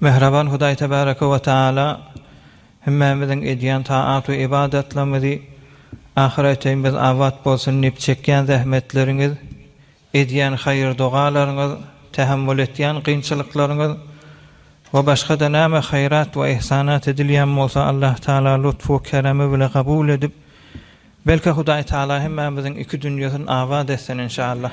Mähriban Hudaý Tebaraka we Tagala hemmämiziň edýän taat we ybadatlarymyzy ahyreteýin biz abat bolsun diýip çekýän zähmetleriňiz, edýän haýyr-dogalaryňyz, tähemmül etýän kynçylyklaryňyz we başga-da näme haýrat we yhsanat edilýän bolsa Allah Tagala lutf we keremi bile kabul edip, belki Hudaý Tagala hemmämiziň iki dünýesini abat etsin inşallah.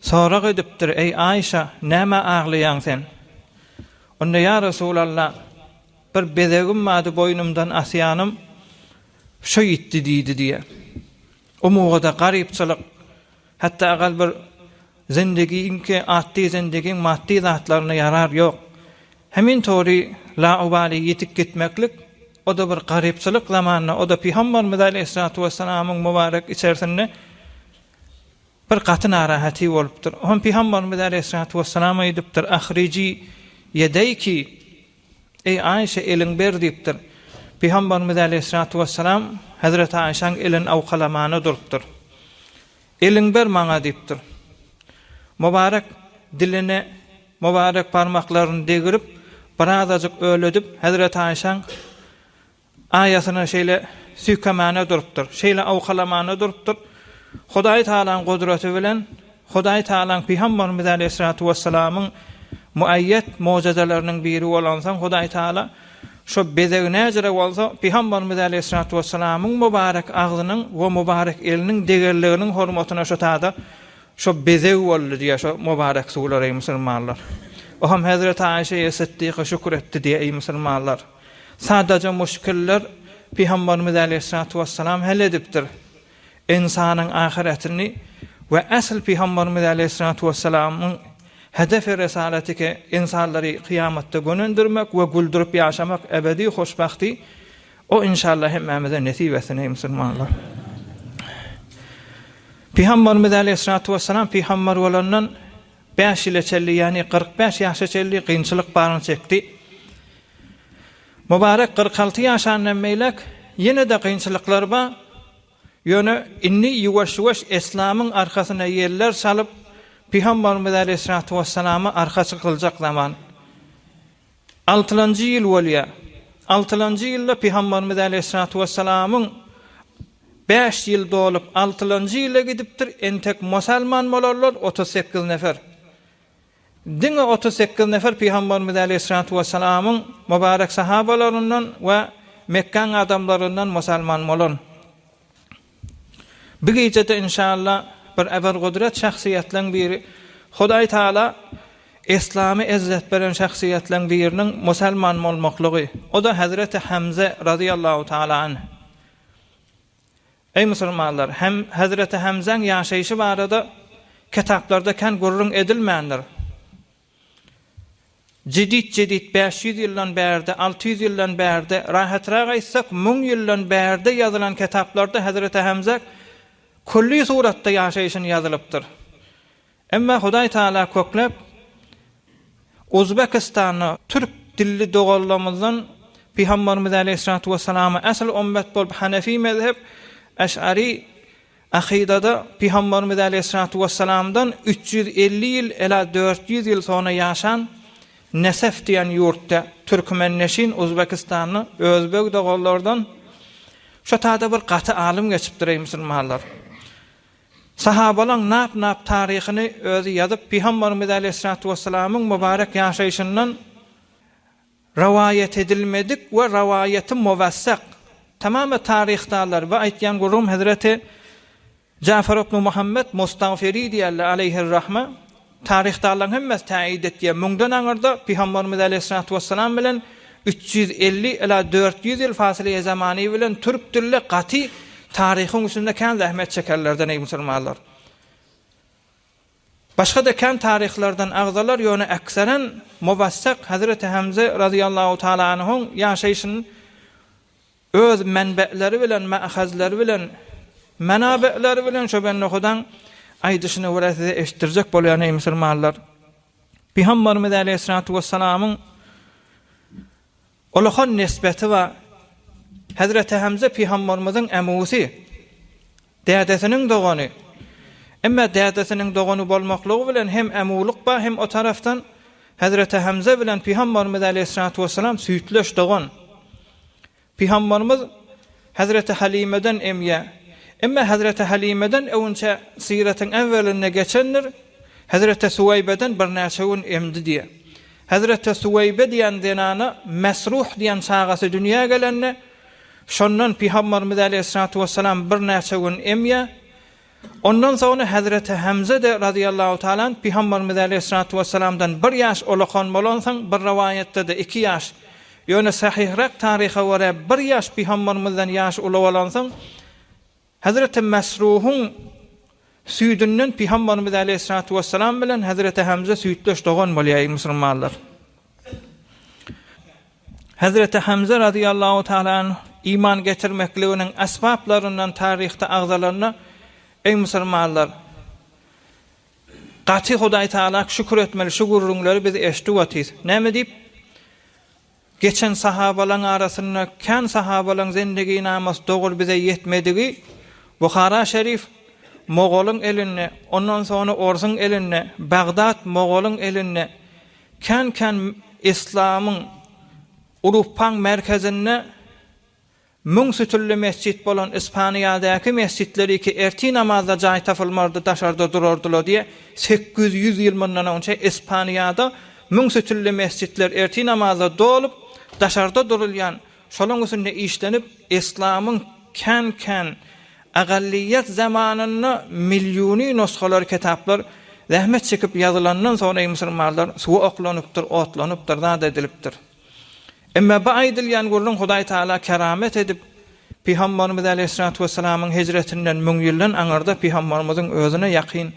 Sorag edipdir, Eý, Aýşa, nämä aglaýaň sen? Onda, Ýa Resulalla, bir bezegim bardy, boýnumdan asýanym, şo ýitdi diýdi diýýär. O mugada garypçylyk, hatda agal bir zendegiňki atdy zendegiň maddy zatlaryna ýarar ýok. Hemin tory laubaly ýitip gitmeklik, o-da bir garypçylyk zamanda, o-da Pygambarymyz aleýhissalatu wessalamyň mubarek içersinde, Bir gaty narahaty bolupdyr. Hom Pygambarymyz aleýhissalatu wessalam aýdypdyr, Ahrijî ýedeyki, Eý, Aýşe, eliň ber diýipdir. Pygambarymyz aleýhissalatu wessalam hezreti Aýşäň elini awkalamana durupdyr. Eliň ber maňa diýipdir. Mubarek dilini, mubarek barmaklaryny degrip, birazajyk öledip, hezreti Aýşäň Aýasyna şeýle süýkemana durupdyr, şeýle awkalamana durupdyr, Hudaý Tagalaň gudraty bilen, Hudaý Tagalaň Pygambarymyz aleýhissalatu wessalamyň muaýýat mojizalarynyň biri bolansoň, Hudaý Tagala şo bezeg näcirä bolsa, Pygambarymyz aleýhissalatu wessalamyň mubarek agzynyň we mubarek eliniň degerliginiň hormatyna şo tada şo bezeg boldy diýýär şo mubarek suwlar, eý musulmanlar! Oham hezreti Aýşe-eý Sytdyka şükür etdi diýýär, eý musulmanlar! Sadaja müşkiller Pygamberimiz aleýhissalatu wessalam hal edipdir. Ynsanyň ahyretini we asl Pygamberimiz aleýhissalatu wessalamyň hedefi resalatike ynsanlary kyýamatda gönendirmek we güldürip ýaşamak ebedi hoşbahti O inşallah hemmämize nesip etsin eý musulmanlar. Pygamberimiz aleýhissalatu wessalam pygamber bolandan Bäş ýyla çelli, ýagny kyrk bäş ýaşa çelli kynçylyk baryny çekdi. Mubarek kyrk alty ýaşandan beýläk ýene-de kynçylyklar bar, ýöne indi ýuwaş-ýuwaş eslamyň arkasyna ýeller salyp, Pygambarymyz äleýhissalatu wessalama arka çykyljak zaman Altylanjy ýyl bolýar. Altylanjy ýylda Pygambarymyz äleyhissalatu wessalamyň bäş ýyl dolup, altylanjy ýyla gidipdir, entek musalman bolarlar otuz sekiz nefer. Diňe otuz sekiz nefer Pygambarymyz äleyhissalatu wessalamyň mubarek sahabalaryndan we Mekgäň adamlaryndan musalman bolan. Bu gijede inşalla bir eber gudret şahsyýetleň biri Hudaý Taala Yslamy ezzet beren şahsyýetleň biriniň musalman bolmaklygy oda Hazreti Hamze Razyallahu Taala anh. Eý musulmanlar hem Hazreti Hamzeň ýaşaýşy barada kitaplarda kän gürrüň edilmändir. Jedit Jedit bäş ýüz ýyldan bärde, alty ýüz ýyldan bärde, rahatrak aýtsak, müň ýyldan bärde ýazylan ketaplarda Hezreti Hemze külli suratda ýaşaýşyny ýazylypdyr. Emma Hudaý Tagala kökläp Uzbekistanda türk dilli doganlarymyzdan Pygamberimiz Aleýhissalatu Wesselama ähli ümmet bolup Hanefi mezhep, Eş'ari Akydada Pygambarymyz äleyhyssalatu wessalamdan üç ýüz elli ýyl ela dört ýüz ýyl sonra ýaşan Nesef diýen ýurtda, türkmenneşin Uzbekistanly özbeg doganlardan şo tada bir gaty alym geçipdir eý musulmanlar. Sahabalaň nap nap taryhyny özi ýazyp Pygambarymyz äleyhyssalatu wessalamyň mubarek ýaşaýşyndan Rowaýat edilmedik we rowaýaty mowessak, tamamy taryhdarlar we aýtýan gürrüňim hezreti Jafar ibnu Muhammet Mustagfiri diýýärler aleýhir-rahme, taryhdarlaryň hemmesi täýýit etýär, muňdan aňyrda Pygamberimiz aleýhissalatu wessalam bilen üç ýüz elli ila dört ýüz ýyl fasylýaý zamany bilen türk dilli gaty taryhyň üstünde kän zähmet çekenlerden eý musulmanlar. Başga-da kän taryhlardan agzalar, ýöne äkseren Mowassak Hazreti Hemze razyýallahu taala anhuň ýaşaýşyny öz menbeleri bilen, maahazleri bilen, menabeleri bilen şo bende Hudaň aýdyşyny görä size eşitdirjek bolýan eý musulmanlar! Pygamberimiz aleýhissalatu wessalamyň Ulakan nesbeti bar. Hezreti Hemze pygambarymyzyň emwsi, dädesiniň dogany. Emma dädesiniň dogany bolmaklygy bilen hem emwlyk bar hem o tarapdan Hezreti Hemze bilen pygambarymyz aleýhissalatu wessalam süýtleş dogan. Pygambarymyz Hezreti Halimeden emýä. Emma Hezreti Halimeden öwünçä syratyň äwwelinde geçendir, Hezreti Suweýbeden birnäçe gün emdi diýýär. Hezreti Suweýbe diýen zenana Mesruh diýen çagasy dünýä gelende, şondan Pygamberimiz äleyhissalatu wessalam birnäçe gün emýär. Ondan soňra hezreti Hemze-de razyýallahu taala anh Pygamberimiz aleýhissalatu wessalamdan bir ýaş ulakan bolansoň, bir rowaýatda-da iki ýaş, ýöne sahyhrak taryha görä bir ýaş Pygamberimizden ýaşy uly bolansoň, hezreti Mesruhyň süýdünden Pygamberimiz aleýhissalatu wessalam bilen hezreti Hemze süýtdeş dogan bolýaý musulmanlar. Hezreti Hamza razyýallahu taala anh iman getirmekliginiň asbaplaryndan taryhda agzalanda, Eý musulmanlar! Gaty Hudaý taala şükür etmeli şu gürrüňleri biz eşidip otyrys. Näme diýip? Geçen sahabalaň arasynda kän sahabalaň zendeginamasi doguly bize ýetmedigi Buhara şerif mogolyň elinde, ondan soňra orsuň elinde, Bagdat mogolyň elinde, Kän-kän yslamyň urfpaň merkezinde müň sütünli mesjit bolan Ispaniýadäki mesjitleri ki ertir namazda jaý tapylmardy, daşarda durardylar diýe sekiz ýüz ýyl mundan onça Ispaniýada müň sütünli mesjitler ertir namazda dolup, daşarda durulýan Şolaň üsünde işlenip, Eslamyň kän-kän Agalyýet zamanynda milliony nusgalar kitaplar zähmet çekip ýazylandan soňra musulmanlar suwa oklanypdyr, otlanypdyr, zat edilipdir. Emma bu aýdylýan gürrüň Hudaý Tagala keramet edip, Pygamberimiz Aleýhissalatu wessalamyň hijretinden müň ýyldan aňyrda Pygamberimiziň özüne ýakyn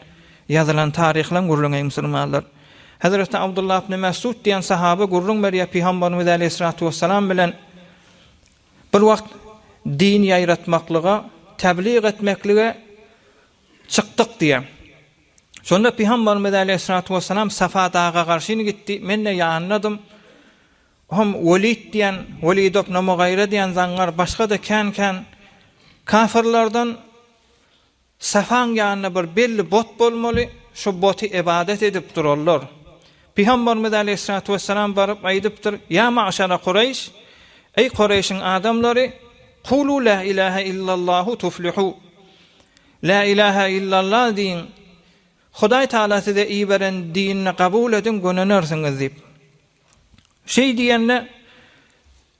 ýazylan taryhlaň gürrüňi musulmanlar. Hezreti Abdullah ibn Mesud diýen sahaba gürrüň berýär, Pygamberimiz äleyhissalatu wessalam bilen bir wagt din ýaýratmaklyga, tebliğ etmeklige çykdyk diýýär. Şonda Pygamberimiz äleyhissalatu wessalam Safa daga garşyn gitdi, men-de ýanynadym. Hom Welid diýen, Welid ibn Mugaýra diýen zaňňar, başga-da kän-kän kafirlerden Safaň ýanynda bir belli bot bolmaly, şu boty ybadat edip durarlar. Pygambarymyz aleýhissalatu wessalam baryp aýdypdyr, Ýa maşara Kureýş, eý Kureýşiň adamlary, Kulu la ilahe illallahu tuflihu, La ilahe illalla diýiň, Hudaý Tagala size iberen dinini gabul ediň, gönenersiňiz diýip. Şeý diýende,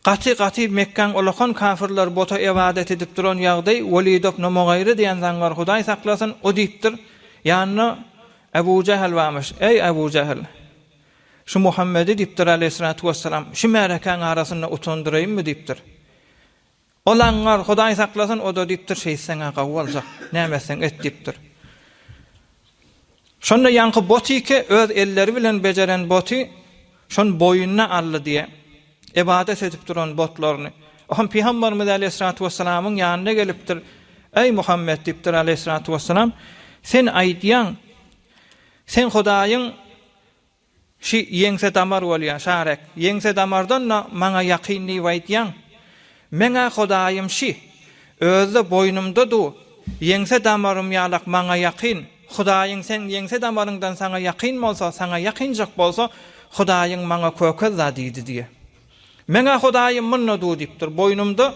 gaty, gaty Mekgäň olakan kafirler bota ybadat edip duran ýagdy, Welido bnu Mugyry diýen zaňňar, Hudaý saklasyn, o diýipdir, ýanyna Ebu Jähel barmyş, Eý, Ebu Jähel! Şu Muhammedi, diýipdir, aleýhissalatu wessalam, şu märekäň arasynda utandyraýynmy? diýipdir. Ol aňňar, Hudaý saklasyn, o-da diýipdir, Şeýtseň-ä gawy boljak, näme etseň et diýipdir. Şonda ýaňky botike öz elleri bilen bejeren boty şony boýnuna aldy diýe, ybadat edip duran botlaryny. O hem Pygamberimiz aleýhissalatu wessalamyň ýanyna gelipdir, Eý Muhammet diýipdir aleýhissalatu wessalam, sen aýdýaň, sen Hudaýyň Şi ýeňse damar bolýa, Şarek. Ýeňse damardan-da maňa ýakyn diýip aýtýaň? Meň-ä Hudaýym şi. Özi-de boýnumda du. Ýeňse damarym ýalak maňa ýakyn. Hudaýyň seň ýeňse damaryňdan saňa ýakyn bolsa, saňa ýakynjak bolsa, Hudaýyň maňa kökezda diýdi diýe. Meň-ä Hudaýym munda du diýipdir, boýnumda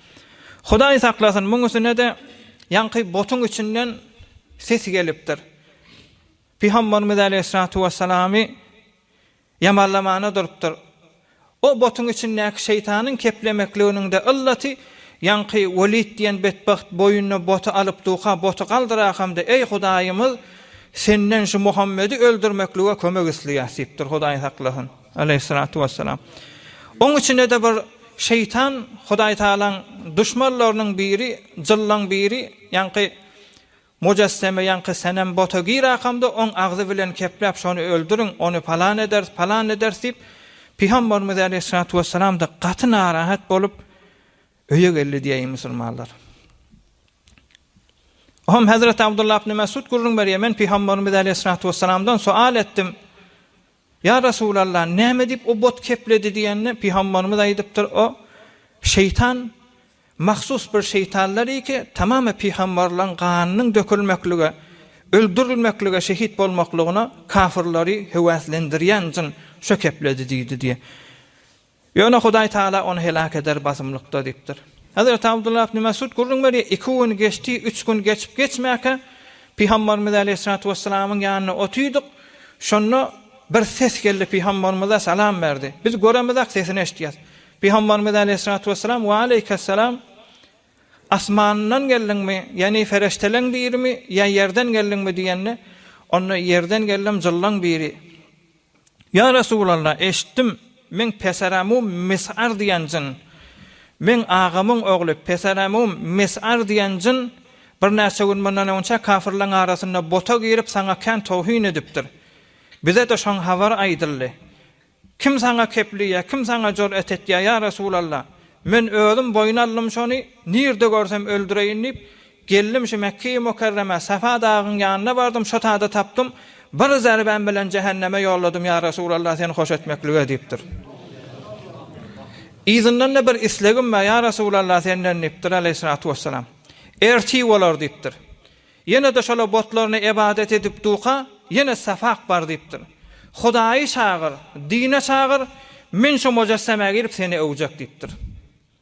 Hudaý saklasyn, muň üstünede ýaňky botuň içinden ses gelipdir. Pygamberimiz aleýhissalatu wessalamy ýamarlamana durupdyr. O botuň içindäki şeýtanyň keplemekliginiňde yllaty ýaňky Welid diýen betbagt boýnuna boty alyp duka boty galdyra hamda eý Hudaýymyz senden şu Muhammedi öldürmeklige kömek isleýäs diýipdir Hudaý saklasyn. Aleýhissalatu wessalam. Oň içinde-de bir şeýtan, Hudaý Tagalaň duşmanlarynyň biri, jyllaň biri, ýaňky mujesseme, ýaňky senem bota girakamda, oň agzy bilen kepläp, şony öldüriň, ony palan ederis, palan ederis diýip, Pygamberimiz Aleýhissalatu wessalam-da gaty narahat bolup, öýe geldi diýeýin musulmanlar. Oňam Hezreti Abdullah ibn Mesud gürrüň berýär, men Pygamberimiz Aleýhissalatu wessalamdan soal etdim, Ýa Resulalla, näme diýip o but kepledi diýende, Pygamberimiz aýdypdyr, o, şeýtan, mahsus bir şeýtanlar iki, tamamy pygamberleriň ganynyň dökülmeklige, öldürilmeklige, şehit bolmaklygyna kafyrlary höwäslendirýän jyn, şo kepledi diýdi diýe. Ýöne Hudaý Taala ony heläk eder basymlykda diýipdir. Hezreti Abdullah ibn Mesud gürrüň berýär, Iki gün geçdi, üç gün geçip geçmäkä, Pygamberimiz aleýhissalatu wessalamyň ýanynda otyrdyk, şonda bir ses geldi, Pygamberimize salam berdi. Biz göremizok, sesini eşitýäs. Pygamberimiz aleýhissalatu wessalam, Waleýkessalam, asmandan geldiňmi, ýagny pereşteleň birimi, ýa ýerden geldiňmi diýende, onda ýerden geldim, jyllaň biri. Ýa Resulalla, eşitdim, meň peseramum Mis'ar diýen jyn, meň agamyň ogly peseramum Mis'ar diýen jyn birnäçe gün mundan öňçä kafirleň arasynda bota girip, saňa kän towhin edipdir. Bize-de şoň habary aýdyldy. Kim saňa keplýär, kim saňa jur'at etýär, ýa Resulalla? Men özüm boýun aldym şony, nirde görsem öldüreýin diýip, Geldim şu Mekge-i Mukerremä, Safa dagyň ýanyna bardym, şo tada tapdym, bir zerbäm bilen jähenneme ýolladym, ýa Resulallah, seni hoş etmeklige diýipdir. Yzyndan-da bir islegim bar, ýa Resulallah, senden diýipdir, aleýhissalatu wessalam. Ertir bolar diýipdir. Ýene-de şola botlaryna ybadat edip duka, ýene Safak bar diýipdir. Hudaýy çagyr, dine çagyr, men şo mojesseme girip seni öwjek diýipdir.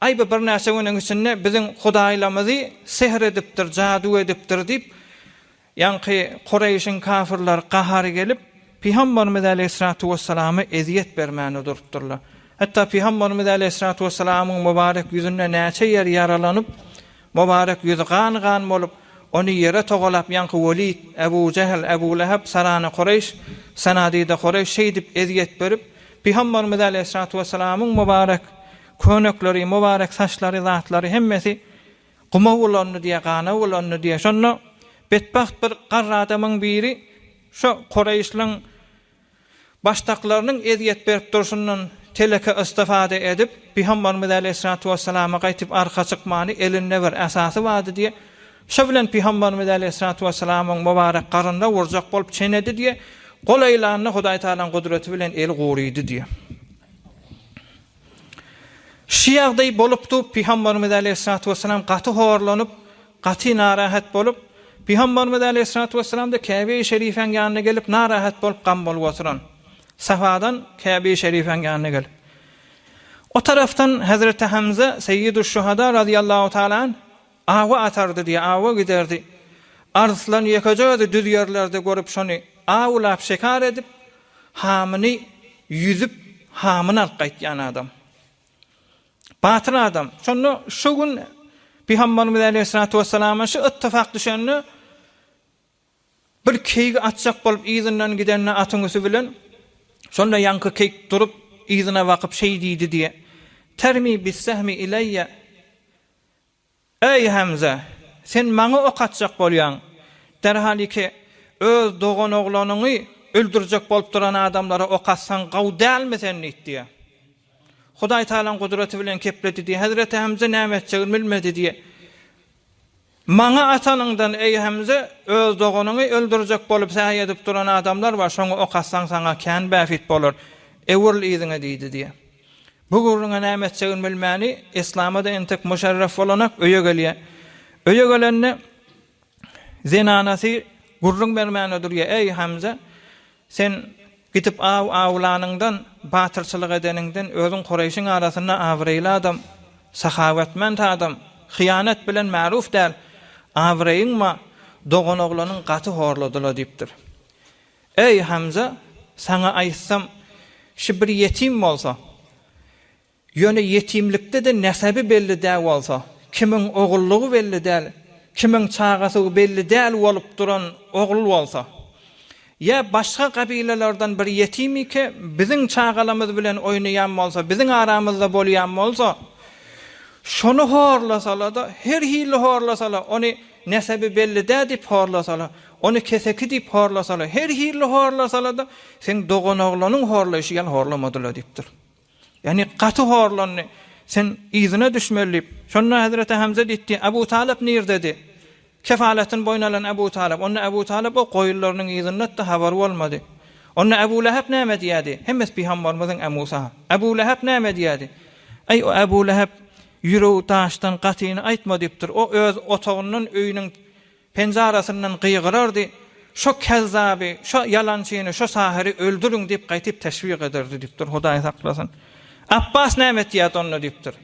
Aý bu birnäçe günüň içinde biziň hudaýlamyzy sehr edipdir, jadu edipdir diýip, ýaňky Kureýşiň kafirleri gahary gelip, Pygamberimiz aleýhissalatu wessalama ezýet bermäne durupdyrlar. Hatda Pygamberimiz aleýhissalatu wessalamyň mubarek ýüzünde näçe ýer ýaralanyp, mubarek ýüzi gan-gan bolup, ony ýere togalap ýaňky Welid, Ebu Jehl, Ebu Lehep, Sarana Kureýş, Sanadida Kureýş şeýdip ezýet berip, Pygamberimiz aleýhissalatu wessalamyň mubarek Könekleri, mubarek saçlary, zatlary hemmesi guma bulandy diýýär, gana bulandy diýýär. Şonda betbagt bir garry adamyň biri şo Kureýşliň başdaklarynyň ezýet berip durşundan teleke istifada edip, Pygambarymyz äleýhissalatu wessalama gaýtyp arka çykmany, elinde bir äsasy bardy diýýär. Şo bilen Pygambarymyz äleýhissalatu wessalamyň mubarek garnyna urjak bolup çenedi diýýär. Gol aýlanda Hudaý Tagalaň gudraty bilen eli gurydy diýýär. Şu ýagdaý bolupdy, Pygamberimiz aleýhissalatu wessalam gaty horlanyp, gaty narahat bolup, Pygamberimiz aleýhissalatu wessalamda Käbeýi Şerifäň ýanyna gelip narahat bolup gam bolup oturan. Safadan Käbeýi Şerifäň ýanyna gelip. O tarapdan Hazreti Hamza Seýidüşşuhada razyýallahu taala anh Awa atardy diýe awa giderdi. Arslan ýekeje özi düz ýerlerde görüp şony awlap şekar edip, hamyny ýüzüp, hamyny alyp gaýtýan adam. Batyr adam. Şonda şu gün Pygamberimiz aleýhissalatu wessalama şu ittifak düşende bir keýigi atjak bolup yzyndan gidende atyň üsti bilen şonda ýaňky keýik durup yzyna bakyp şeý diýdi diýe. Termi bis-sehmi ileýe. Eý, Hemze, sen maňa ok atjak bolýaň. Derhaliki öz doganoglanyňy öldürjek bolup duran adamlara ok atsaň gowy dälmi sen? diýip diýýär. Hudaý Tagalaň gudraty bilen kepledi diýip, hezreti Hemze näme etjegini bilmedi diýip, Maňa atanyňdan, eý, Hemze, öz doganyňy öldürjek bolup säý edip duran adamlar bar, şoňa ok atsaň saňa kän bähbit bolar. Öwrül yzyňa diýdi diýip. Bu gürrüňe näme etjegini bilmäni Yslama-da entek Muşarref bolanak öýe gelýär. Öýe gelende zenanasy gürrüň bermäne durýar, Äý, Hamza, sen gidip aw awlanyňdan, batyrçylyk edeniňden, özüň Kureýşiň arasynda abraýly adam, sahawatmand adam, hyýanat bilen maruf däl, abraýyň-ma, doganoglanyň gaty horladyla diýipdir. Eý, Hamza, saňa aýtsam, şu bir ýetim bolsa, ýöne ýetimlikde-de nesebi belli dä bolsa, kimiň ogullygy belli däl, kimiň çagasygy belli däl bolup duran ogul bolsa, ýa başga gabilelerden bir ýetimike biziň çagalamyz bilen oýnaýan bolsa, biziň aramyzda bolýan bolsa, şony horlasala-da, her hili horlasala, ony nesebi belli dä diýip horlasala, Ony keseki diýip horlasalar, her hili horlasalar-da, seň doganoglanyň horlaýşy ýaly horlamadylar diýipdir. Ýagny gaty horlandy. Sen yzyna düşmeli diýip. Şonda Hezreti Hemze diýdi, Abu Talyp nirdedi? Kefalatyny boýun alan Abu Talyp. Onda Abu Talyp o goýunlarynyň yzyndady-da, habary bolmady. Onda Abu Lähep näme diýerdi? Hemmesi pygambarymyzyň Amusa. Abu Lähep näme diýerdi? Aý, o Abu Lähep ýüregi daşdan gatyny aýtma diýipdir. O öz otagyndan öýüniň. Penjarasyndan gygyrardy, Şo kezzaby, şo ýalançyny, şo sahyry öldüriň diýip gaýtyp teşwik ederdi diýipdir, Hudaý saklasyn. Apbas näme etýärdi onda diýipdir.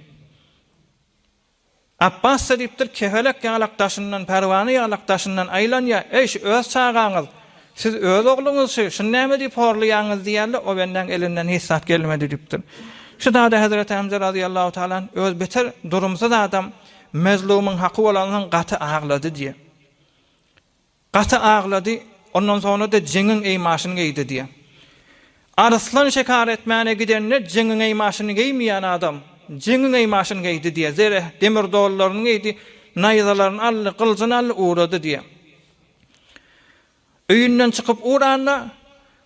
Apbas-da diýipdir, kepelek ýalak daşyndan, pärwana ýalak daşyndan aýlanýar, Eý, şu öz çagaňyz, siz öz ogluňyz şu, şuny näme diýip horlaýaňyz diýýärdi, o bendäň elinden hiç zat gelmedi diýipdir. Şu zada Hezreti Hemze razyýallahu talan öz beter durumsyz adam, Mezlumyň haky bolansoň gaty aglady diýýär. Gaty aglady, ondan soňra-da jeňiň eýmaşyny geýdi diýýär. Arslan şekar etmäne gidende jeňiň eýmaşyny geýmeýän adam, jeňiň eýmaşyny geýdi diýýär. Zereh demir dollaryny geýdi, naýzalaryny aldy, gyljyny aldy, ugrady diýýär. Öýünden çykyp uranda,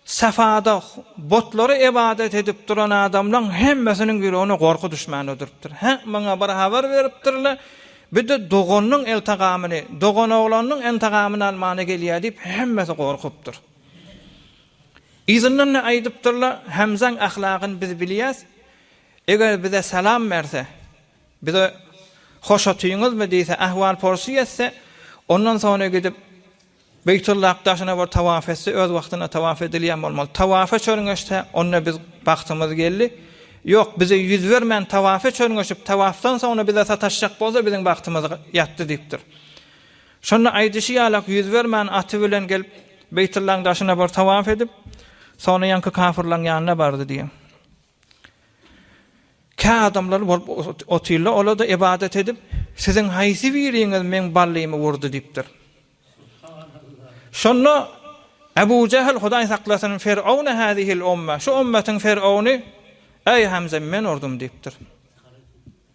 Safada butlara ybadat edip duran adamlaň hemmesiniň ýüregine gorky düşmän ödüripdir. Hä, maňa bir habar beripdir-le, bir-de doganynyň iltagamyny, doganoglanynyň intigamyny almana gelýär diýip, hemmesi gorkupdyr. Yzyndan-da aýdypdyr-la, Hemzaň ahlagyny biz bilýäs, eger bize salam berse, bize hoş otyňyzmy diýse, ahwal-porsy etse, ondan soňra gidip, Beýtullak daşyna bir tawaf etse, öz wagtynda tawaf edilýän bolmaly. Tawafa çörňeşse, onda biz bagtymyz geldi. Ýok, bize ýüz bermän tawafa çörňeşip, tawafdan soňra bize sataşjak bolsa, biziň bagtymyz ýatdy diýipdir. Şonda aýdyşy ýalak ýüz bermän aty bilen gelip, Beýtullaň daşyna bir tawaf edip, soňra ýaňky kafyrlaň ýanyna bardy diýýär. Kä adamlar bolup otyrlar, olar-da ybadat edip, Siziň haýsy biriňiz meň ballymy wurdy? diýipdir. Şonda Ebu Jähl, Hudaý saklasyn, Fir'auna hâzihil umma, şu ummatyň fir'auny, Eý Hamza, men urdum diýipdir.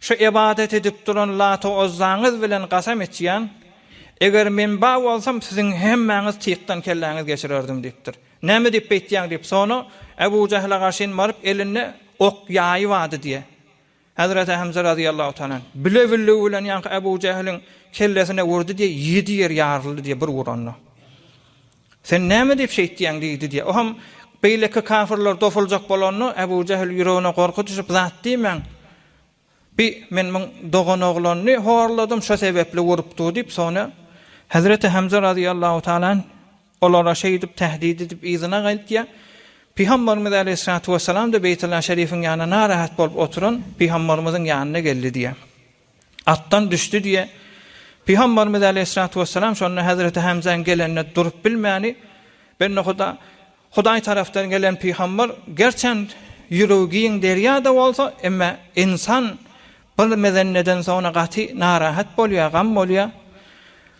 Şu ybadat edip duran Lata-Uzzaňyz bilen gasam içýän, eger men bar bolsam, siziň hemmäňiz tykdan kelläňizi geçirerdim diýipdir. Näme diýip beýtýäň diýip, soňra Ebu Jähle garşyn baryp, elinde ok, ýaýy bardy diýýär. Hezreti Hemze razyýallahu taala anh, bile billigi bilen ýaňky Ebu Jähliň kellesine urdy diýýär, ýedi ýer ýaryldy diýýär bir uranda. Sen näme diýip şeýtýäň? diýdi diýýär. O hem beýleki kafirler dosuljak bolanda, Ebu Jähl ýüregine gorky düşüp, Zat diýmäň, bi men muň doganoglanyny horladym, şo sebäpli urupdyr diýip, soňra Hezreti Hemze razyýallahu taala anh olara şeýdip tähdit edip yzyna gaýtýar. Pygamberimiz aleýhissalatu wessalam-da Beýtullah şerifiň ýanyna narahat bolup oturan pygamberimiziň ýanyna geldi diýýär. Atdan düşdi diýe, Pygamberimiz aleýhissalatu wessalam şonda Hezreti Hemzäň gelenine durup bilmäni, Bendehuda, Hudaý tarapdan gelen pygamber, gerçän ýüregi giň derýa-da bolsa, emme ynsan bir mezenneden soňra gaty narahat bolýa, gam bolýa.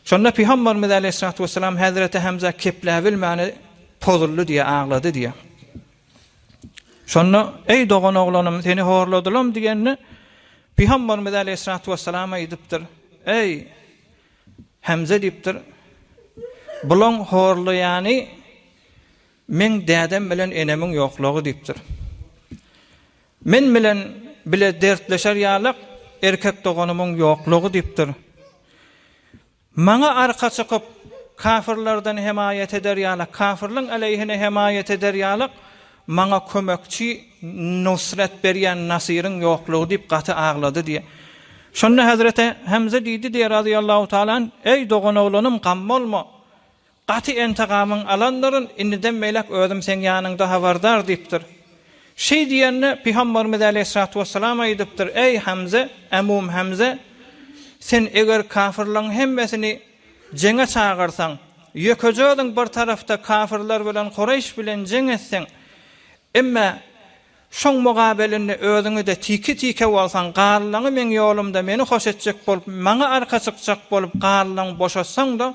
Şonda Pygamberimiz aleýhissalatu wessalam Hezreti Hemzä kepläbilmäni, pozuldy diýe, aglady diýe. Şonda, Eý dogan oglanym, seni horladylam diýende, Pygamberimiz Aleýhissalatu wessalam aýdypdyr, Eý, Hemze diýipdir, Bulaň horlaýany meň dädem bilen enemiň ýoklugy diýipdir. Men bilen bile dertleşer ýalak erkek doganymyň ýoklugy diýipdir. Maňa arka çykyp, kafirlerden hemaýat eder ýaly, kafirliň aleýhine hemaýat eder ýaly maňa kömekçi, nusret berýän nasyryň ýoklugy diýip gaty aglady diýýär. Şonda Hezreti Hemze diýdi diýýär razyýallahu taala anh, Eý doganoglanym, gam bolma! Gaty entegamyň alandyryn, indiden beýläk özüm seň ýanyňda habardar diýipdir. Şeý diýende, Pygamberimiz äleýhissalatu wessalam aýdypdyr, Eý, Hemze, ämum Hemze! Sen eger kafyrlaryň hemmesini jeňe çagyrsaň, ýökeje özüň bir tarapda kafyrlar bilen Kureýş bilen jeň etseň, emme şoň mugabelinde özüňi-de tiki-tike bolsaň, galylaňy meň ýolumda meni hoş etjek bolup, maňa arka çykjak bolup, galylaňy boşatsaň-da,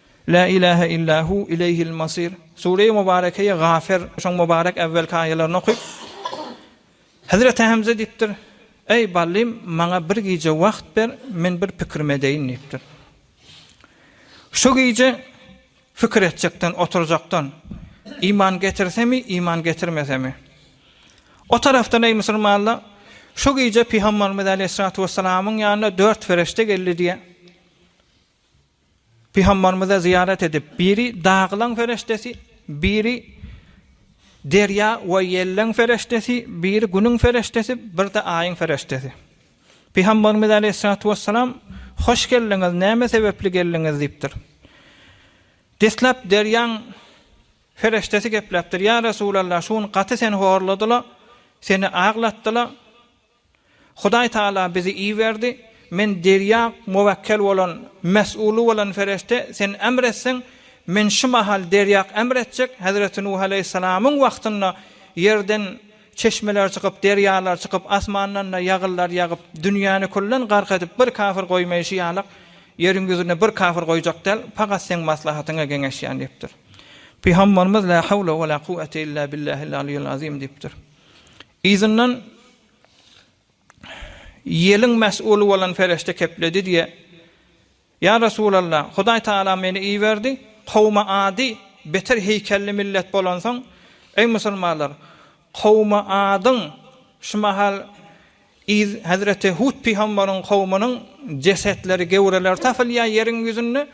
Lä ilähe illa hu, ileýhil masyr. Sure-i Mubarekeýe Gafer, şoň mubarek äwwelki aýalaryny okyp, Hezreti Hemze diýipdir, Eý, Ballym, maňa bir gije wagt ber, men bir pikirim edeýin diýipdir. Şu gije fikir etjekden, oturjakdan, iman getirsemi, iman getirmesemi? O tarapdan, eý, musulmanlar, şu gije Pygamberimiz aleýhissalatu wessalamyň ýanyna dört ferişde geldi diýýär. Pygambarymyza zyýarat edip, biri dagylaň pereşdesi, biri derýa we ýelleň pereşdesi, biri günüň pereşdesi, birde aýyň pereşdesi. Pygambarymyz aleýhissalatu wessalam, Hoş geldiňiz, näme sebäpli geldiňiz? diýipdir. Deslap derýaň pereşdesi gepläpdir, Ýa Resulallah, şu gün gaty seni horladylar, seni aglatdylar, Hudaý Tagala bizi iberdi, men derýa muwekkel bolan, mes'uly bolan perişde, sen emr etseň, men şu mahal derýa emr etjek, Hezreti Nuh aleýhissalamyň wagtynda ýerden çeşmeler çykyp, derýalar çykyp, asmandan-da ýagyrlar ýagyp, dünýäni küllen gark edip, bir kafir goýmaýşy ýalak, ýeriň ýüzünde bir kafir goýjak däl, pagat seň maslahatyňa geňeşýän diýipdir. Pygambarymyz, Lä hawle we lä kuwwete illa billahil aliýul azim diýipdir. Yzyndan ýeliň mes'uly bolan perişde kepledi diýe, Ýa Resulalla, Hudaý Tagala meni iberdi, kowumy Ady beter heýkelli millet bolansoň, eý musulmanlar, kowumy Adyň şu mahal yz hezreti Hud pygambaryň kowumynyň jesetleri, gewreleri tapylýar ýeriň ýüzünde,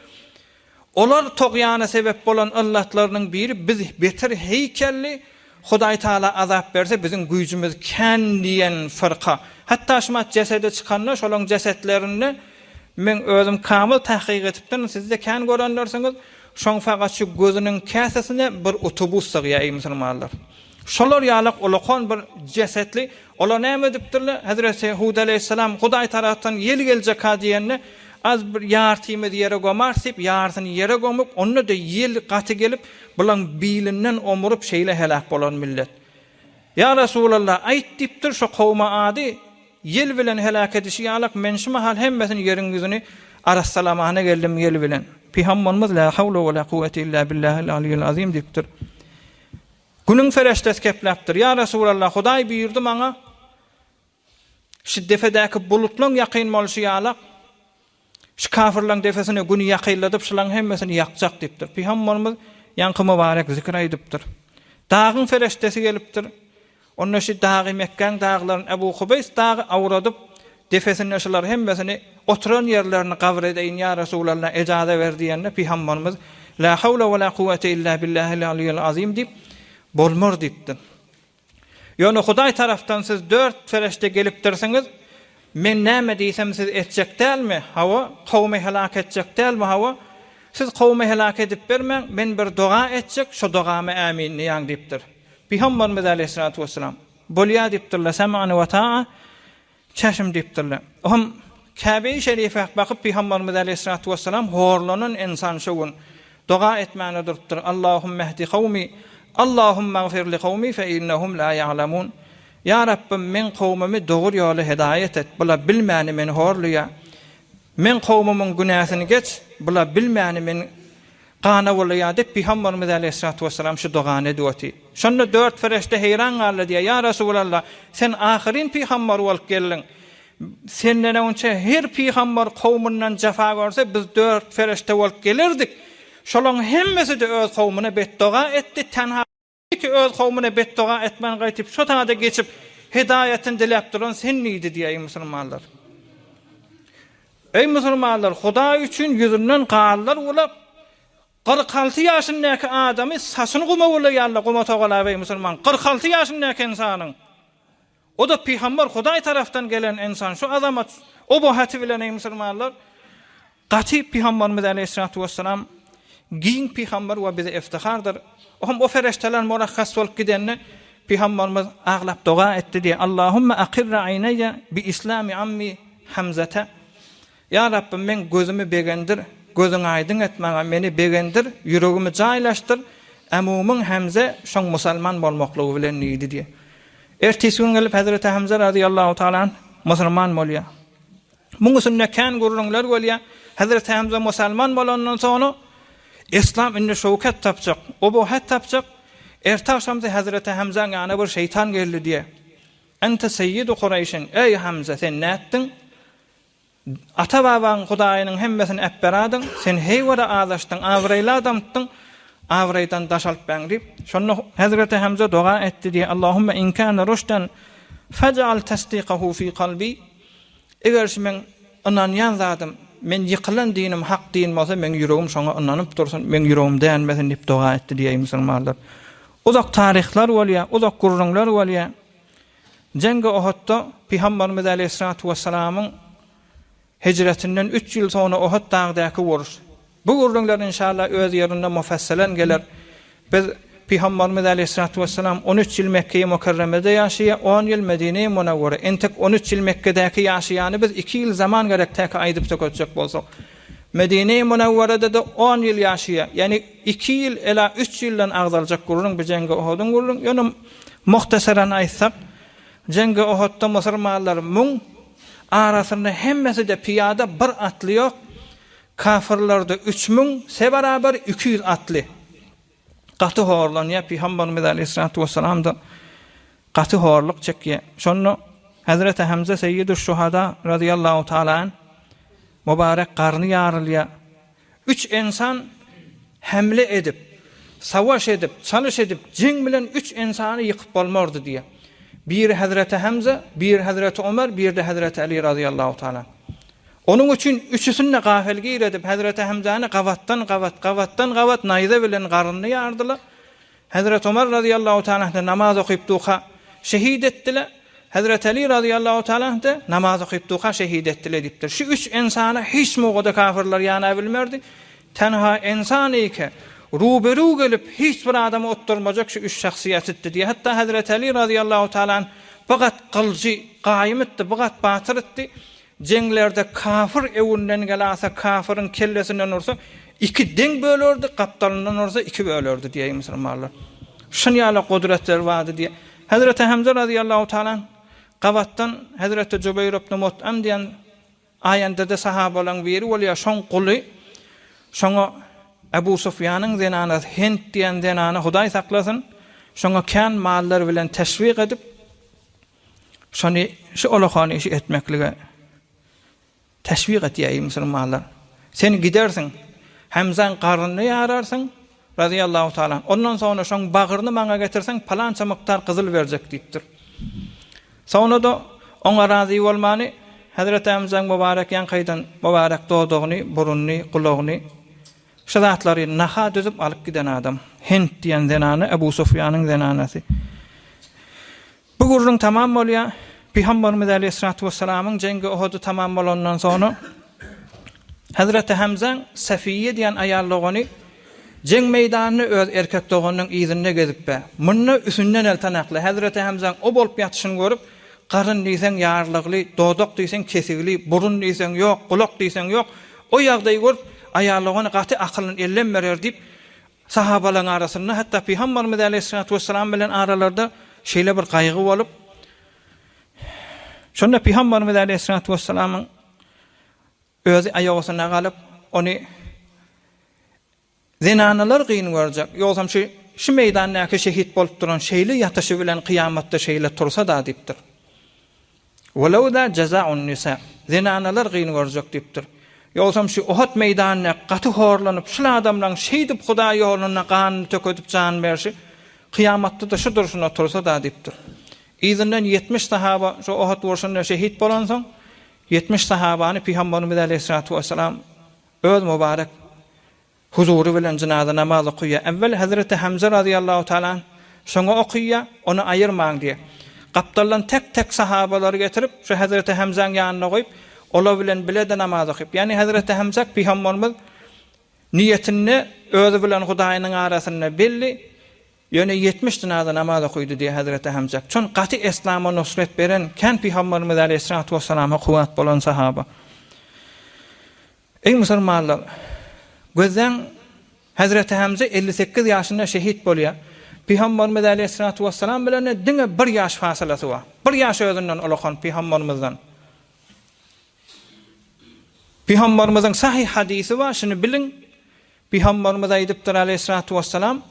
Olar togýana sebep bolan yllatlarynyň biri biz beter heýkelli Hudaý Taala azap berse biziň güýjümiz kän diýen fyrka. Hatda şumat jesedi çykanda şolaň jesetlerinde men özüm kamyl tahkyk etipdirin sizde kän görenlersiňiz şoň sagatçy gözüniň käsesine bir utubus sygýa eý musulmanlar. Şolar ýalak ulakon bir jesetli ola näme edipdirle hezreti hud aleýhissalam hudaý tarapdan ýel geljeka diýende az bir ýartymy ýere gomarys diýip ýartyny ýere gomup onda da ýel gaty gelip bulaň bilinden omuryp şeýle heläk bolan millet ýa resulallah aýt diýipdir şo kowma ady ýel bilen heläk edişi ýalak men şu mahal hemmesini ýeriň ýüzüni arassalamana geldim ýel bilen pygamberimiz la hawla wala kuwwete illa billahil aliýil azim diýipdir. Günüň fereşdesi kepläpdir. Ýa Resulallah, Hudaý buýurdy maňa, Şu depedäki bulutlaň ýakyn bolşy ýalak, şu kafirlaň depesine Güni ýakynladyp, şulaň hemmesini ýakjak diýipdir. Pygamberimiz ýaňky mübarek zikri aýdypdyr. Dagyň fereşdesi gelipdir. Onda şu dagy Mekgäň daglaryny Ebu Kubeýs dagy awradyp, depesinde şulary hemmesini oturan ýerlerini gabyr edeýin, ýa Resulalla, ejaza ber diýende, pygambarymyz, La hawla we la kuwwete illa billahil aliýil azim diýip, Bolmar diýipdir. Ýöne Hudaý tarapdan siz dört perişde gelipdirsiňiz, men näme diýsem siz etjek dälmi, hawa, kowumy heläk etjek dälmi, hawa, siz kowumy heläk edip bermäň, men bir doga etjek, şo dogama ämin diýäň diýipdir. Pygamberimiz aleýhissalatu wesselam, Bolýar diýipdirler, Sam'an we ta'a, Çeşim diýipdirler. O hem Käbeýi şerife bakyp Pygamberimiz aleýhissalatu wesselam horlanan insan şo gün doga etmäne durupdyr, Allahumma ihdi kawmi, Allahumma igfir li kawmi fe innehum la ya'lemun. Ýa Rabbym, meň kowmumy dogry ýola hidaýat et, bular bilmäni meni horlaýar. Meň kowmumyň günäsini geç, bular bilmäni meni Gana boldy ýa diýip, Pygamberimiz aleýhissalatu wessalam şu dogany edip otyr. Şonda dört perişde heýran galdy diýýär, Ýa Resulallah, sen ahyryn pygamber bolup geldiň. Senden öňçe her pygamber kowmundan jefa görse, biz dört perişde bolup gelerdik. Şolaryň hemmesi-de öz kowmuna betdoga etdi, tenha. Belki öz kowmyna betdoga etmän gaýtyp şo saňada geçip hidaýatyny diläp duran sen niydi diýä eý musulmanlar. Eý musulmanlar hudaý üçin ýüzünden ganlar ulap kyrk alty ýaşyndäki adamy saçyny guma bulaýarlar guma sogalap eý musulman kyrk alty ýaşyndäki ynsanyň O-da pygamber, Hudaý tarapdan gelen ynsan, şu azamat oba haty bilen, eý, musulmanlar, gaty pygamberimiz aleýhissalatu wessalam giň pygamber we bize iftihardyr. O hem o ferişdeler murakhas bolup gidende, pygamberimiz aglap doga etdi diýýär, Allahumma aqirra aýneýe bi islami ammi Hamzata. Ýa Rabbym, meň gözümi begendir, gözüňi aýdyň et maňa, meni begendir, ýüregimi jaýlaşdyr, Ämumyň Hämze şoň musalman bolmaklygy bilen diýdi diýýär. Ertesi gün gelip hezreti Hämze razyýallahu taala anh musurman bolýar. Muň üsünde kän gürrüňler bolýar. Hezreti Hämze musalman bolandan soňra Yslam indi şöwket tapjak, obohet tapjak. Erte agşamsy hezreti Hämzäň ýanyna bir şeýtan geldi diýýär. Ente seýyidu Kureýşin, eý Hämze, sen nätdiň? Ata-babaň Hudaýynyň hemmesini äpberadyň, sen heýwada azaşdyň, abraýly adamtdyň, abraýdan daş alypbäň diýip, şonda Hezreti Hemze doga etdi diýýär, Allahumma in kana rüşden faj'al tasdiqahu fi kalbi, Eger şu meň ynanýan zadym, men ýykylan dinim hak din bolsa, meň ýüregim şoňa ynanyp dursun, meň ýüregim dänmesin diýip doga etdi diýýär, eý musulmanlar. Uzak taryhlar bolýar, uzak gürrüňler bolýar. Jeňgi Ohatda Pygambarymyz Aleýhissalatu Wessalamyň Hijretinden üç ýyl soňra Ohad dagdaky uruş. Bu gürrüňler inşallah öz ýerinde mufasselen geler. Biz Pygambarymyz Aleýhissalatu Wessalam on üç ýyl Mekgeýi Mukerremede ýaşaýa, on ýyl Medineýi Munewwere. Entek on üç ýyl Mekgedäki ýaşaýany biz iki ýyl zaman gerekdäki aýdyp sökezjek bolsak. Medine-i Munawwarada-da on ýyl ýaşaýar. Ýagny iki ýyl, ela üç ýyldan agzaljak gürrüň bu Jengi Ohodyň gürrüň. Ýöne muhtasaran aýtsak, Jengi Ohodda musurmanlar müň, arasynda hemmesi-de pyýada, bir atly ýok. Kafyrlarda üç müň, se barabar iki ýüz atly. Gaty horlanýar, pygamberimiz aleýhissalatu wessalam-da gaty horluk çekýär. Şonda Hezreti Hemze Seýidüş Şuhada razyýallahu taala anh mübarek garny ýarylýar. Üç ensan hemle edip, savaş edip, çalyş edip, jeň bilen üç ensany ýykyp bolmardy diýýär. Biri Hezreti Hemze, biri Hezreti Ömer, biri-de Hezreti Aly razyýallahu taala anh. Onuň üçin üçüsini-de gafilgir edip, hezreti Hemzäni gabatdan-gabat, gabatdan-gabat naýza bilen garnyny ýardylar. Hezreti Omar razyýallahu talanhy namaz okyp duka, şehit etdiler. Hezreti Aly razyýallahu talanhy-da namaz okyp duka, şehit etdiler diýipdir. Şu üç ensana hiç mowgada kafirler ýana bilmerdi. Tenha ensanyke, ruberu gelip, hiç bir adamy otdurmajak şu üç şahsyýetitdi diýýär. Hatda hezreti Aly razyýallahu talanhy bigat gylyjy, gaýym itdi, bigat batyr itdi. Jeňlerde kafyr öwünden gelasa kafyryň kellesinden ursa iki deň bölerdi, gapdalyndan ursa iki bölerdi diýeýi musulmanlar. Şun ýaly gudretleri bardy diýe. Hezreti Hemze razyýallahu taala anh gabatdan Hezreti Jübeýr ibn Mut'im diýen aýandede sahabalaryň biri bolýa şoň guly şoňa Ebu Sufýanyň zenanasy Hent diýen zenana Hudaý saklasyn şoňa kän mallar bilen teşwik edip Şony şu olakan işi etmeklige teşwik etýär, eý musulmanlar! Sen gidersiň, Hemzäň garnyny ýararsyň, razyýallahu taala anh, ondan soňra şoň bagryny maňa getirseň, palança mukdar gyzyl berjek diýipdir. Soňra-da oňa razy bolmany, hezreti Hemzäň mubarek ýaňkaýdan mubarek dodagyny, burunyny, gulagyny, şu zatlary naha düzüp alyp giden adam. Hint diýen zenana, Ebu Sufýanyň zenanasy. Bu gürrüň tamam bolýar. Pygamberimiz aleýhissalatu wessalamyň jengi Uhudy tamam bolandan soňra Hazreti Hamzaň Safiýýe diýen aýal dogany jeň meýdanynda öz erkek doganynyň yzynda gezip bar. Munda üsünden el tanakly Hazreti Hamzaň o bolup ýatyşyny görüp, garyn diýseň ýarylygly, dodak diýseň kesigli, burun diýseň ýok, gulak diýseň ýok, o ýagdaýy görüp aýal dogany gaty akylyny ellem berer diýip, Sahabalaryň arasynda, hatda Pygambarymyz aleýhissalatu wessalam bilen aralarynda şeýle bir gaýgy bolup, şonda Pygambarymyz aleýhissalatu wessalamyň özi aýak asyna galyp, ony zenanalar gyn görjek, ýogsam şu şu meýdandaky şehit bolup duran şeýle ýatyşy bilen kyýamatda şeýle tursa-da diýipdir. Welawla jazaun nisa, zenanalar gyn görjek diýipdir. Ýogsam şu Uhud meýdanynda gaty horlanyp, şul adamlaň şeýdip Hudaý ýolunda ganyny tökedip jan berşi, kyýamatda-da şu durşuna otursa-da diýipdir. Yzyndan ýetmiş sahaba şu Uhud urşunda şehit bolansoň, ýetmiş sahabany Pygamberimiz aleýhissalatu wessalam öz mubarek Huzury bilen jynaza namaz okyýar. Äwwel Hezreti Hemze razyýallahu taala anh, şoňa okyýar, ony aýyrmaň diýýär. Gapdaldan tek-tek sahabalary getirip, şu Hezreti Hemzäň ýanyna goýup, olar bilen bile-de namaz okyp. Ýagny Hezreti Hemzä Pygamberimiz niýetinde özi bilen Hudaýynyň arasynda belli, ýöne ýetmiş jynaza namaz okydy diýýär Hezreti Hemzä. Çün gaty eslama nusret beren, kän Pygamberimiz äleyhissalatu wessalamha kuwwat bolan sahaba. Eý musulmanlar! Gözläň, hezreti Hemze elli sekiz ýaşynda şehit bolýar. Pygamberimiz aleýhissalatu wessalam bilen diňe bir ýaş fasylasy bar. Bir ýaş özünden ulakan pygamberimizden. Pygamberimiziň sahyh hadysy bar, şuny biliň, Pygamberimiz aýdypdyr, aleýhissalatu wessalam,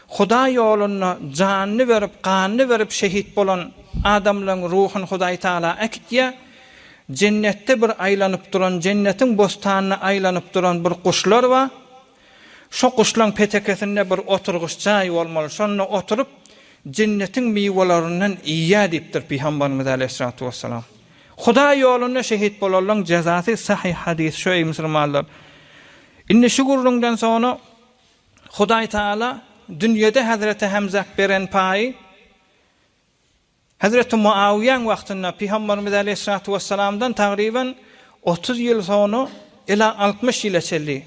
Hudaý ýolunda janyny berip, ganyny berip şehit bolan adamlaryň ruhuny Hudaý Tagala äkitýär. Jennetde bir aýlanyp duran, jennetiň bostanyna aýlanyp duran bir guşlar bar. Şo guşlaryň petekesinde bir oturgyç jaý bolmaly, şonda oturyp, jennetiň miwelerinden iýýär diýipdir Pygamberimiz, aleýhissalatu wessalam. Hudaý ýolunda şehit bolanlaryň jezasy, sahyh hadys şu eý musulmanlar! Indi şu gürrüňden soňra Hudaý Taala dünýede hezreti Hemzä beren paýy hezreti Muawyýäň wagtynda, pygamberimiz aleýhissalatu wessalamdan tagryban otuz ýyl soňra ila altmyş ýyla çenli,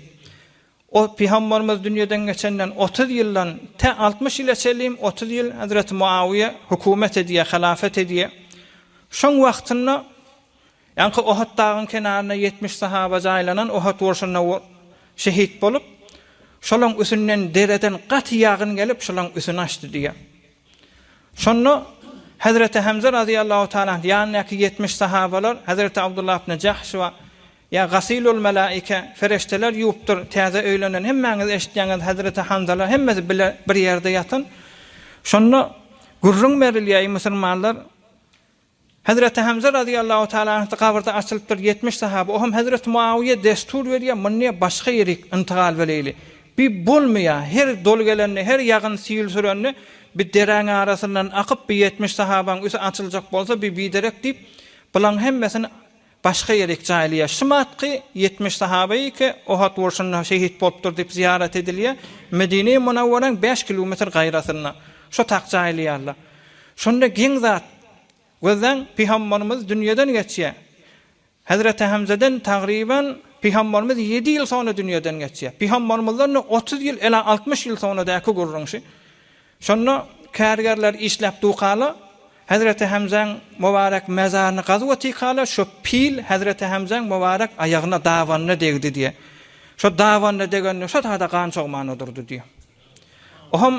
o pygamberimiz dünýeden geçenden otuz ýyldan tä altmyş ýyla çenlim otuz ýyl hezreti Muawyýa hökümet edýär, halafet edýär. Şoň wagtynda Ýaňky Ohut dagyň kenarynda ýetmiş sahaba jaýlanan Ohut urşunda şehit bolup, şolaň üsünden dereden gaty ýagyn gelip, şolaň üsüni açdy diýýär. Şonda Hezreti Hemze razyýallahu taala anh ýanyndaky ýetmiş sahabalar Hezreti Abdullah ibne Jahş we Ýa gasilul melaike, Fereşdeler ýuwupdyr, täze öýlenen, hemmäňiz eşitýäňiz, Hezreti Hanzala hemmesi bile bir ýerde ýatan. Şonda gürrüň berilýär, eý musulmanlar, Hezreti Hemze razyýallahu taala anh gabyrda açylypdyr ýetmiş sahaba oham hezreti Muawyýe dessur berýär munne başga ýerik yntygal beleýli bi bolmaýar her doly gelende her ýagyn sil sürende bi deräň arasyndan akyp bi ýetmiş sahabaň üti açyljak bolsa bi biderek diýip bulaň hemmesini Başga ýer ekje aýylýar. Şymatky ýetmiş sahabe eke Ohad urşunda şehit bolupdyr diýip zyýarat edilýär. Medine-i Munawwaraň bäş kilometr gaýrasynda. Şo tak jaýylýarlar. Şonda geň zat. Gözleň, pygambarymyz dünýeden geçýär. Hezreti Hemzeden tagryban pygambarymyz ýedi ýyl soňra dünýeden geçýär. Pygambarymyzdan-da otuz ýyl, ela altmyş ýyl soňra däki gürrüň şi. Şonda kärgerler işläp dukaly Hezreti Hemzäň mubarek mezaryny gazup otykaly şo pil Hezreti Hemzäň mubarek aýagyna dabanyna degdi diýe. Şo dabanyna degende şo zada gan çogman odurdy diýe. Oham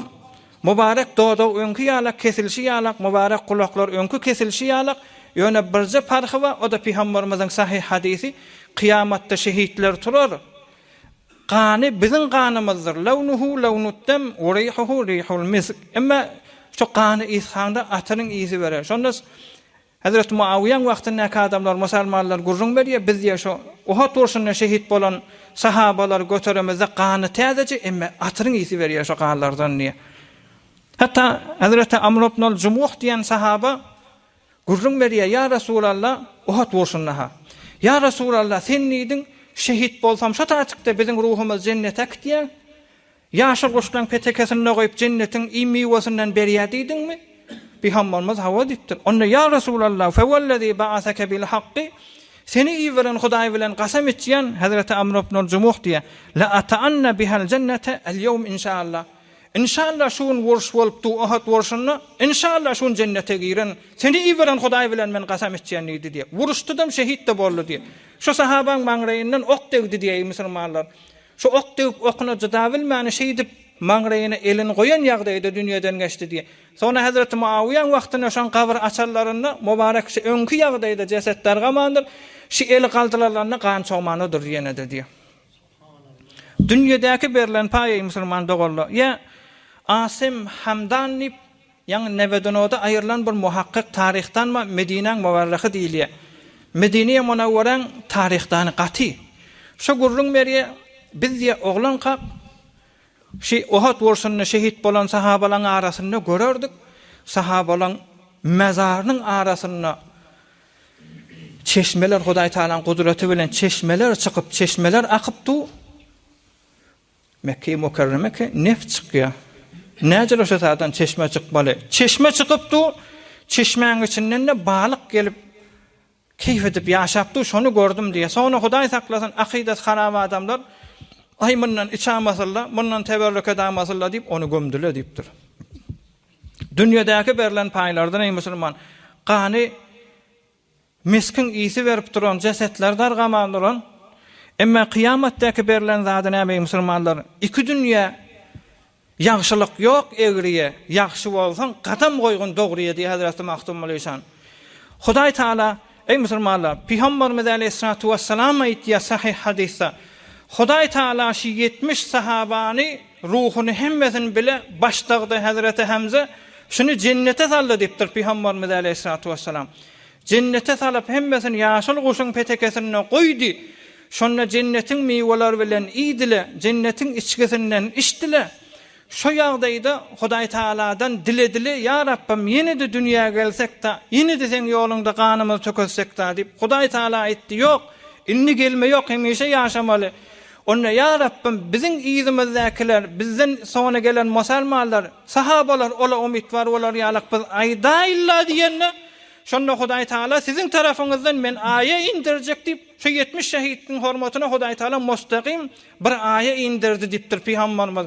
mubarek dodag öňki ýalak kesilişi ýalak mubarek gulaklar öňki kesilişi ýalak ýöne birje parhy ba o da pygambarymyzyň sahyh hadisi kyýamatda şehitler turar Gany biziň ganymyzdyr, lawnuhu lawnut dem we rihuhu rihul misk. Emma şu gany ysgaňda atyryň ysy berer. Şonda Hezreti Muawiýaň wagtyndaky adamlar, musalmanlar gürrüň berýär, biz diýýär şu Uhud urşunda şehit bolan sahabalary göteremizde gany täzeje, emma atyryň ysy berýär şu ganlardan diýýär. Hatda Hezreti Amr ibn al-Jumuh diýen sahaba Gürrüň berýär, Ýa Resulalla, Uhud urşunda-ha. Ýa Resulalla, sen diýdiň, Şehit bolsam, şo taýçykda biziň ruhumyz jennete äkitýär. Ýaşyl guşlaň petekesinde goýup, jennetiň iým miwesinden berýär diýdiňmi? Pygamberimiz hawa diýipdir. Onda, Ýa Resulalla, Fewellezî ba'aseke bil hakki, Seni iberen Hudaý bilen gasam içýän, Hezreti Amr ibnul Jumuh diýýär, La'ata'anna bihel jennete el-ýewm inşaallah. Inşallah şu gün urş bolupdy Ohod urşunda inşallah şu gün jennete giren seni iberen Hudaý bilen men gasam içýän diýdi diýip uruşdydam şehitde boldy diýip şu sahabaň maňraýyndan ok degdi diýeýi musulmanlar şu ok degip okuna cydabilmän şeýdip maňraýyna elini goýan ýagdaýda dünýeden geçdi diýip soňra hezreti Muawyýaň wagtynda şoň gabyr açanlarynda mubarek şu öňki ýagdaýda jeset dargamandyr şu eli galdylarlanda gan çogmandyr ýenede diýip Dünýedäki berlen paýy musulman doganlar ýa Asim Hamdan diýip, ýaňy Nebedunada aýrylan bir muhakkyk taryhdanma Medinäň muwarryhy diýilýär. Medinä Munawwaräň taryhdany gaty. Şo gürrüň berýär, Biz diýýär, oglankak şi Uhud urşunda şehit bolan sahabalaň arasynda görerdik, sahabalaň mazarynyň arasynda Çeşmeler Hudaý Tagalaň gudraty bilen çeşmeler çykyp, çeşmeler akyp dur. Mekge-i Mukerremeke neft çykýa. Näcele şu saatdan çeşme çykmaly. Çeşme çykyp dur. Çeşmäň içinden-de balyk gelip, keýp edip ýaşap dur, şony gördüm diýýä. Soňra Hudaý saklasyn, akydasy harap adamlar, Aý, mundan içamasynla, mundan teberrük edamasyla diýip, ony gömdüle diýipdir. Dünýedäki berlen paýlardan, eý, musulman, gany miskin ysy berip duran jesetler dargaman duran, emma kyýamatdaky berlen zady näme, eý, musulmanlar? Iki dünýä ýagşylyk ýok, egriýe, ýagşy bolsaň, gadam goýgun dogryýe diýýär Hezreti Magtym Mulyşan. Hudaý Tagala, eý, musulmanlar, Pygamberimiz aleýhissalatu wessalam aýtýar sahyh hadysda, Hudaý Tagala şu ýetmiş sahabany Ruhuny hemmesini bile başdagdy Hezreti Hemze şuny jennete saldy dipdir Pygambarimiz Aleýhissalatu Wessalam. Jennete salyp hemmesini ýaşyl guşuň petekesinde goýdy. Şonda jennetiň miweleri bilen iýdile, jennetiň içgisinden içdile. Şo ýagdaýda Hudaý Tagaladan diledile, Ýa Rabbym ýene-de dünýä gelsek-da, ýene-de seň ýoluňda ganymyzy tökezsek-da diýip, Hudaý Tagala aýtdy, Ýok, indi gelme ýok, hemişe ýaşamaly. Onda, ýa Rabbym, biziň yzymyzdäkiler, bizden soňra gelen musalmanlar, sahabalar ola umytwar bolar ýalyk biz aýdaýyn-la diýende, şonda Hudaý Tagala siziň tarapyňyzdan men aýa inderjek diýip, şu ýetmiş şehidiň hormatyna Hudaý Tagala mustagym bir aýa inderdi diýipdir Pygamberimiz.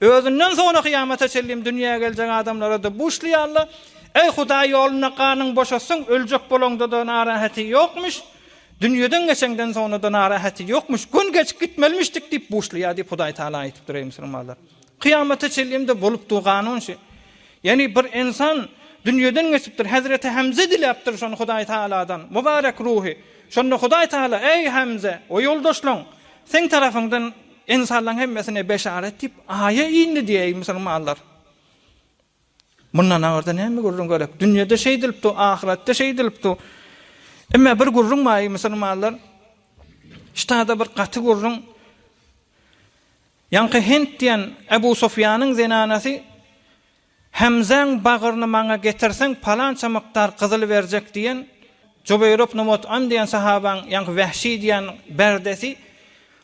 Özünden soňra kyýamata çenli dünýä geljek adamlara-da bu şli ýaly, Eý, Hudaý ýolunda ganyň boşasyn, öljek bolaňda-da narahaty ýokmuş, dünýeden geçeňden soňra-da narahaty ýokmuş, gün geçip gitmelimişdik diýip buşlaýar diýip Hudaý Tagala aýdypdyr, eý, musulmanlar! Kyýamata çenli-de bolupdygy kanun şu. Ýagny bir insan dünýeden geçipdir, hezreti Hemze diläpdir şony Hudaý Tagaladan, mubarek ruhy. Şonda Hudaý Tagala, Eý, Hemze, o ýoldaşlaň, seň tarapyňdan, Ynsanlaryň hemmesine beşarat diýip, aýa indi diýäýi musulmanlar. Mundan aňyrda näme gürrüň gerek? Dünýede şeýdilipdi, ahyretde şeýdilipdi. Emme bir gürrüň baýy musulmanlar. Ştada bir gaty gürrüň. Ýaňky Hent diýen Ebu Sufýanyň zenanasy Hemzäň bagryny maňa getirseň palança mukdar gyzyl berjek diýen Jubeýr ibn Mut'ym diýen sahabaň, ýaňky Wähşi diýen berdesi,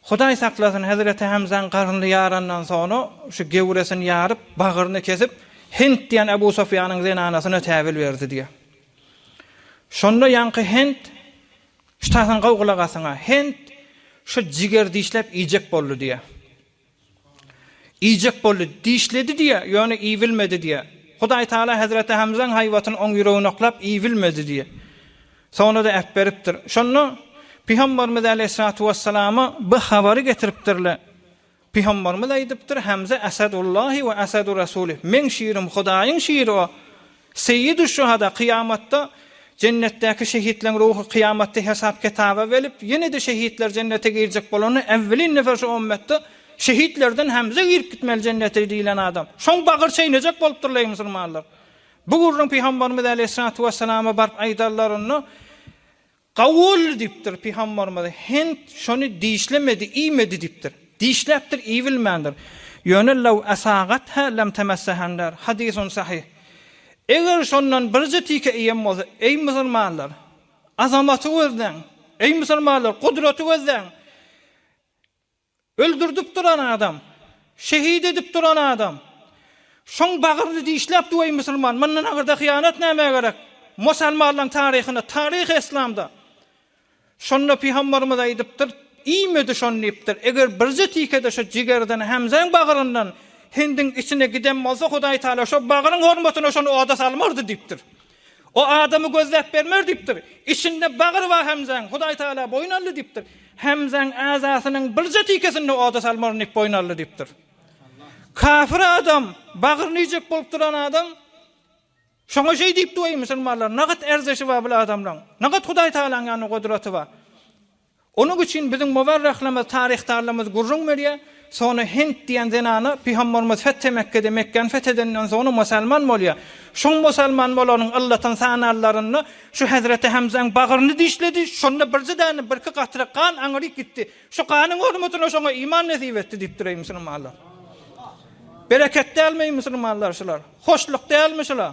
Hudaý saklasyn, hezreti Hemzäň garnyny ýarandan soňra şu gewresini ýaryp, bagryny kesip, Hent diýen Ebu Sufýanyň zenanasyna täwil berdi diýýär. Şonda ýaňky Hent, Şytasyň gowy gulak asyňa, Hent şu jigeri dişläp iýjek boldy diýýär. Iýjek boldy, dişledi diýýär, ýöne iýbilmedi diýýär. Hudaý Tagala hezreti Hemzaň haýbatyny oň ýüregine oklap, iýbilmedi diýýär. Soňra-da äpberipdir. Şonda Pygambarymyz äleýhissalatu wessalama bu habary getiripdirler. Pygambarymyz aýdypdyr, Hemza Asadullahi we Asadu Rasuli, meň şirim Hudaýyň şiri o, Seýidüşşuhada, Kyýamatda Jennetdäki şehitleň ruhy kyýamatda hesap-kitaba gelip, ýene-de şehitler Jennete girjek bolanda, äwwelin nefer şu ymmetde şehitlerden Hemze girip gitmeli Jennete diýlen adam. Şoň bagyr çeýnejek bolupdyrlar, eý musulmanlar! Bu gürrüň pygambarymyz äleýhissalatu wessalama baryp aýdarlarynda, Kabul! diýipdir. Pygamberimiz, Hent şony dişlemedi, iýmedi diýipdir. Dişläpdir, iýibilmändir. Ýöne Lew asagatha lem temessehanlar, hadysun sahyh. Eger şondan birje tike iýen bolsa, eý musulmanlar, azamaty gözläň! Eý musulmanlar, gudraty gözläň! Öldürdip duran adam. Şehit edip duran adam. Şoň bagyryny dişläp duýaý musulman. Mundan agyrda hyýanat nämä gerek. Mosalmanlaň taryhynda taryh eslamda. Şonda pygambarymyz aýdypdyr, iýmedi şony diýipdir. Eger birje tikede şo jigerden Hemzäň bagyryndan Hindiň içine giden bolsa Hudaý Taala şo bagyryň hormatyna şony oda salmardy diýipdir. O adamy gözläp bermer diýipdir. Içinde bagyr bar Hemzäň. Hudaý Tagala boýun aldy diýipdir. Hemzäň äzasynyň birje tikesini-de oda salmaryn diýip boýun aldy diýipdir. Kafir adam, bagryny iýjek bolup duran adam şoňa şeý diýipdi, Weý, musulmanlar, nagat erzeşi bar bul adamlaň. Nagat Hudaý Tagalaň ýanynda gudraty bar. Onuň üçin biziň muwarrahlarymyz, taryhdarlarymyz gürrüň berýär, Sona Hent diýen zenana Pygamberimiz Fethe Mekke'de, Mekgäni feth edenden soňra musalman bolýar. Şoň musalman bolanyň yllatyny sananlarynda şu Hezreti Hemzäň bagryny dişledi, şonda birji däne, birki gatra gan aňryk gitdi. Şu ganyň hormatyna şoňa iman nesip etdi diýipdir, eý musulmanlar. Bereket dälmi, eý musulmanlar, şular? Hoşluk dälmi şular?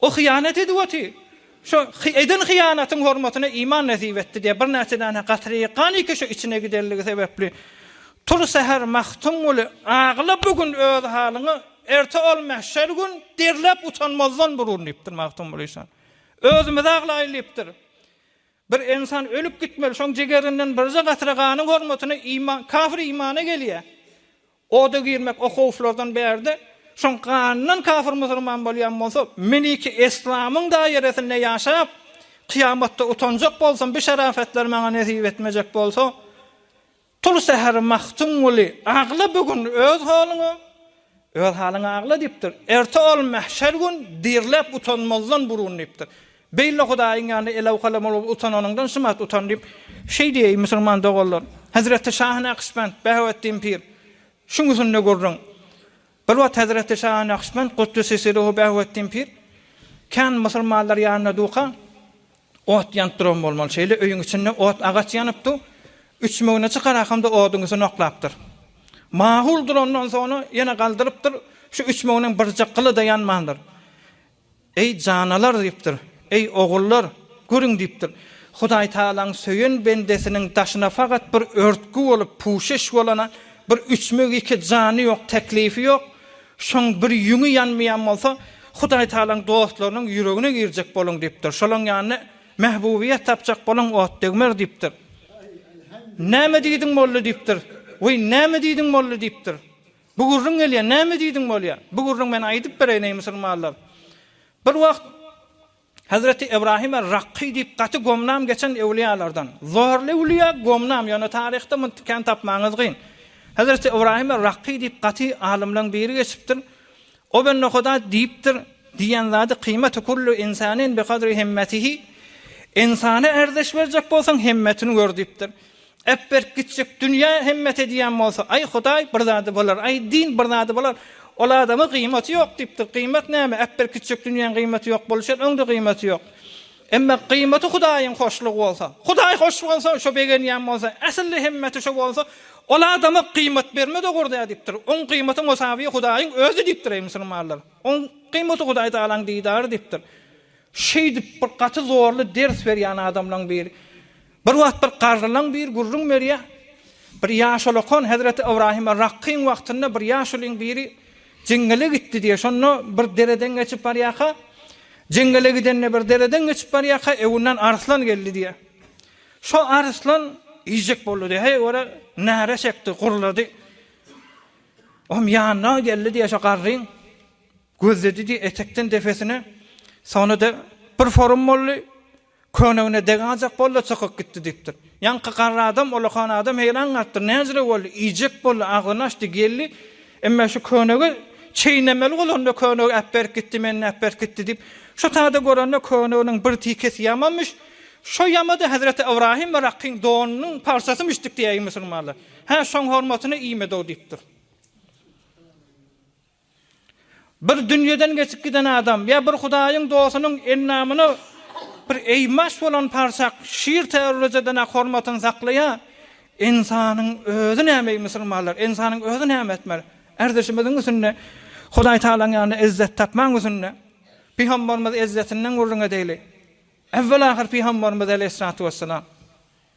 O hyýanat edip oty. Şo eden hyýanatyň hormatyna iman nesip etdi diýip, birnäçe däne gatyry ganyki şo içine gidenligi sebäpli tur säher Magtymguly agla bu gün öz halyňa, erte ol mähşer gün derläp utanmazdan burun diýipdir Magtymguly işan. Özümiz aglaýyl diýipdir. Bir ensan ölüp gitmeli, şoň jigerinden birje gatra ganyň hormatyna iman, kafir imana gelýär. Oda girmek o howflardan bärde şoň ganyndan kafir musurman bolýan bolsa meniki eslamyň daýeresinde ýaşap kyýamatda utanjak bolsam bu şarafatlar maňa nesip etmejek bolsa tul säher mahtunguly agla bu gün öz halyňa öz halyňa agla diýipdir erte ol mähşer gün dirläp utanmazdan burun diýipdir Beýle Hudaýyň ýanynda elawkalamalyga utananyňdan şumat utan diýip, şeý diýeý, musulman doganlar. Hezreti Şahy Nakşbend, Bäheweddin pir, şuň üsünde gürrüň. Bir wagt hezreti Şahy Nakşbend, Guddüssi Siruhu Bäheweddin pir, kän musulmanlar ýanynda durka, ot ýanyp duran bolmaly. Şeýle öýüň içinde ot agaç ýanypdy. Üçmegini çykarak hem-de oduň üstüne oklapdyr. Mahul durandan soňra ýene galdyrypdyr. Şu üçmeginiň birje gyly-da ýanmandyr. Eý, janalar! diýipdir. Eý, ogullar! Görüň! diýipdir. Hudaýtagalaň söýen bendesiniň daşyna fakat bir örtgi bolup, puşeş bolana, bir üçmek iki jany ýok, teklifi ýok, şoň bir ýüňi ýanmaýan bolsa, Hudaýtagalaň dostlarynyň ýüregine girjek boluň diýipdir. Şolaň ýanyna mähbubyýet tapjak boluň, ot degmez diýipdir. Näme diýdiň, molla? diýipdir. Weý, näme diýdiň, molla? diýipdir. Bu gürrüň gelýär. Näme diýdiň bolýar? Bu gürrüň men aýdyp bereýin, eý musulmanlar! Bir wagt Hezreti Ybrahim er-Rakky diýip gaty gomnam geçen öwliýalardan. Zorly öwliýa, gomnam, ýöne taryhda muny kän tapmagyňyz gyn. Hezreti Ybrahim er-Rakky diýip gaty alymlaň biri geçipdir. Gobennohuda diýipdir, Diýen zady kyýmatu kullu insanin bi kadri himmetihi, Ynsana ärdeş berjek bolsaň, himmetini gör diýipdir. Ep berk gitjek dünýä himmet edýän bolsa, Aý, Hudaý, bir zady bolar, aý, din bir zady bolar, ol adama gyýmaty ýok diýipdir. Gyýmat näme? Ep berk gitjek dünýäň gyýmaty ýok boluşýar, öň-de gyýmaty ýok. Emma gyýmaty Hudaýyň hoşlugy bolsa, Hudaý hoş bolsa, şo begenýän bolsa, äsli hemmeti şo bolsa, ol adama gyýmat bermez ugurda diýipdir. Oň gyýmaty musawy Hudaýyň özi diýipdir, eý musulmanlar. Oň gyýmaty Hudaý Tagalaň didary diýipdir. Şeýdip bir gaty zorly ders berýän adamlaň biri. Bir wagt bir garrylaň biri gürrüň berýär, bir ýaşulykon hezreti Ybrahyma Rakkyň wagtynda bir ýaşulyň biri jeňňele gitdi diýýär. Şonda bir dereden geçip barýarka, jeňňele gidende bir dereden geçip barýarka, öňünden arslan geldi diýýär. Şo arslan iýjek boldy diýýär. Heý göre, näre çekdi, gurlady. Oňam ýanyna geldi diýýär şo garryň. Gözledi-de etekden depesine, soňra-da bir forum boldy, köňnegine deganjak boldy-da çykyp gitdi diýipdir. Ýaňky garry adam, ullakan adam heýran galypdyr, näjire boldy, iýjek boldy, agzyny açdy, geldi, Emme şu köňnegi çeýnemeli bolanda köňnegi äpberip gitdi, meni äpberip gitdi diýip, şu sada görende köňneginiň bir tikesi ýamamyş, şo ýamady hezreti Ybrahym Yrakkyň donunyň parçasymyşdyk diýäýi musulmanlar. Hä, şoň hormatyna iýmedi-ow diýipdir. Bir dünýeden geçip giden adam ýa bir Hudaýyň dostunyň endamyna bir eýmaç bolan parçak şir täwirlejeden-ä hormatyny saklaýar. Ynsanyň özi näme eý musulmanlar, ynsanyň özi näme etmeli? Erdişimiziň üstünde Hudaý Tagalaň ýanynda ezzet tapmagyň üstünde Pygambarymyz ezzetinden gürrüň edeli. Äwwel-ahyr Pygambarymyz aleýhissalatu wessalam.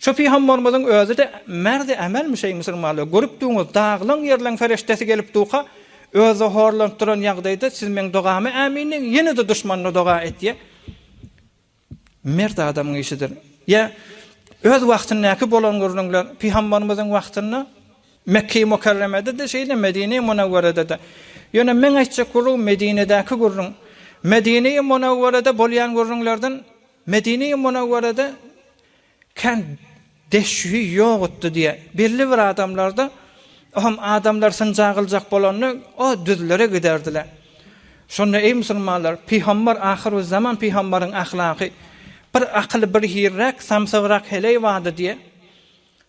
Şu pygamberimiziň özi-de merdi ämelmi şeý musulmanlar, görüp duruňyz, dagylan ýerleň ferişdesi gelip durka, özi horlanyp duran ýagdaýda siz meň dogama ämin diň, ýene-de duşmanyna doga etýä. Mert adamyň işidir. Ýa öz wagtyndaky bolan gürrüňler, pygamberimiziň wagtynda Mekge-i Mukarremede-de şeýle, Medine-i Munawwerede-de. Ýöne meň aýtjak gürrüňim Medinedäki gürrüň. Medine-i Munawwerede bolýan gürrüňlerden Medine-i Munawwarada kän deşühi ýogutdy diýýär. Belli bir adamlarda, o hem adamlar synja gyljak bolanda, o düzlere giderdiler. Şonda, eý musulmanlar, pygambar, ahyrüzzaman pygambaryň ahlagy, bir akyly bir hiriräk, samsygrak heleý bardy diýýär.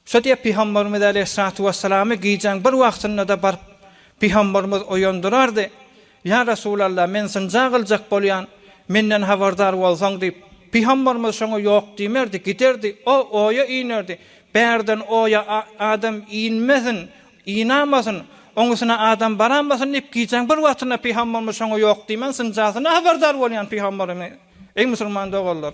Şo diýip Pygamberimiz aleýhissalatu wessalamy gijäň bir wagtynda-da baryp Pygamberimiz oýandyrardy, Ýa Resulalla, men synja gyljak bolýan, menden habardar bolsaň diýip. Pygamberimiz şoňa ýok diýmerdi, giderdi, o oýa inerdi, bärden oýa adam inmesin, inamasyn, oňusyna adam baramasyn diýip gijäň bir wagtynda Pygamberimiz şoňa ýok diýmän synjasyna habardar bolýan Pygamberimiz. Eý musulman doganlar!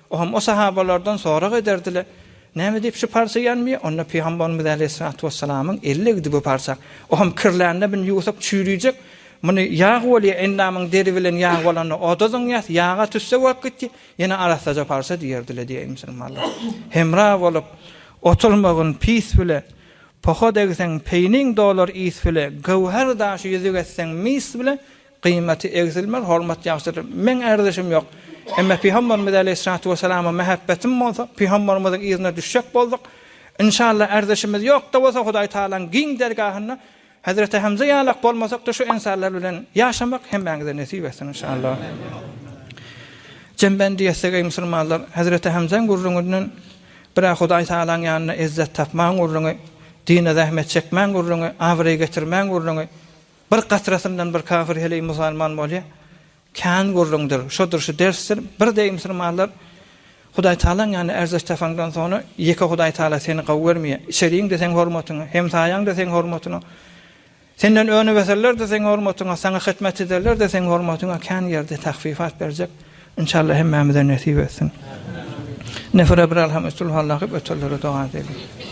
Oňam o sahabalardan sorag ederdiler, Näme diýip şu parça ýanmýar? Onda Pygambarymyz äleyhissalatu wessalamyň eli degdi bu parça. Oňam kirlände bini ýuwsak çüýrüjek. Muny ýag bolýar, endamyň deri bilen ýag bolanda oda zyňýas, ýaga tüsse bolup gitdi, ýene arassaja parça diýerdiler diýýär musulmanlar. Hemra bolup oturmagyn pis bile, poha degseň peýniň dolar is bile, göwher daşy ýüzük etseň mis bile, Gyýmaty egsilmez hormat ýagşydyr. Meň ärdüşim ýok. Emme Pygamberimiz aleýhissalatu wessalama mähebbetim bolsa, Pygamberimiziň yzyna düşjek bolduk. Inşallah ärdüşimiz ýok-da bolsa Hudaý Tagalaň giň dergahynda Hezreti Hemze ýalak bolmasak-da şu ensarlar bilen ýaşamak hemmäňize nesip etsin inşallah. Jembendi ýetsek eý musulmanlar, Hezreti Hemzeň gürrüňinden bir-ä Hudaý Tagalaň ýanynda ezzet tapmagyň gürrüňi, dine zähmet çekmäň gürrüňi, abraý getirmäň gürrüňi, Bir gatrasyndan bir kafir heleý musalman bolýar. Kän gürrüňdir, şudur, şu dersdir. Bir deý musulmanlar Hudaý Tagalaň ýanynda ärzeş tapaňdan soňra ýeke Hudaý Tagala seni gowy görmeýär. Içeriň-de seň hormatyňa, hemsaýaň-da seň hormatyňa, senden öňübeserler-de seň hormatyňa, saňa hyzmat ederler-de seň hormatyňa kän ýerde tahfifat berjek. Inşallah hemmämize nesip etsin. Neferebiralham üstülhallah gyp ötenlere doga edeliň.